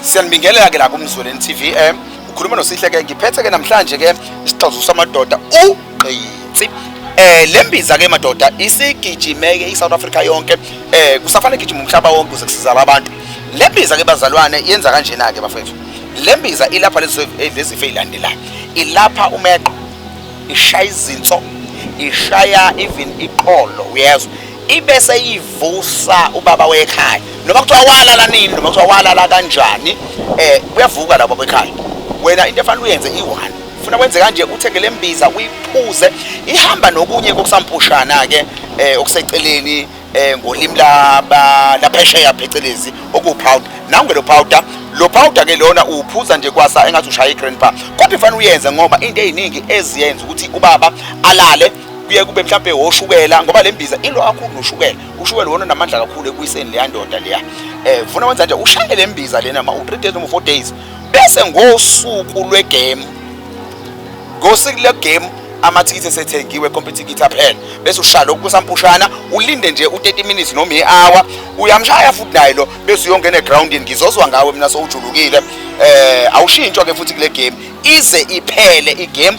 Siyanibingelela ke la kumzweleni TV eh ukhuluma nosihle ke ngiphethe ke namhlanje ke isixazulu samadoda ugqitsi eh lembiza ke madoda isigijimeke iSouth Africa yonke eh kusafanele gijima umhlaba wonke kuze kusizala abantu lembiza ke bazalwane yenza kanjena ke bafethu lembiza ilapha lezi lezi feyilandelayo ilapha umeqo ishaya izinso ishaya even iqolo uyezwa ibese ivusa ubaba wekhaya noma kuthiwa walala nini noma kuthiwa walala kanjani eh kuyavuka labo bekhaya wena into efanele uyenze i-one funa kwenze kanje uthenge le mbiza uyiphuze ihamba nokunye kokusampushana ke eh okuseceleni eh ngolimi laba laphesheya phecelezi okupowder nangu lo powder lo powder ke lona uphuza nje kwasa engathi ushaya igrandpa kodwa ifanele uyenze ngoba into eziningi eziyenza ukuthi ubaba alale kuye kube mhlampe woshukela ngoba le mbiza ilo kakhulu noshukela ushukela wona namandla kakhulu ekuyiseni leya ndoda leya eh funa wenza nje ushaye le mbiza lena ma u3 days noma 4 days bese ngosuku lwegame ngosuku lwegame amathikithi esethengiwe competikithi aphela bese ushaya lokhu kusampushana ulinde nje u30 minutes noma ihour uyamshaya futhi naye lo bese uyongena egroundini ngizozwa ngawe mina sowujulukile eh awushintshwa ke futhi kule game ize iphele igame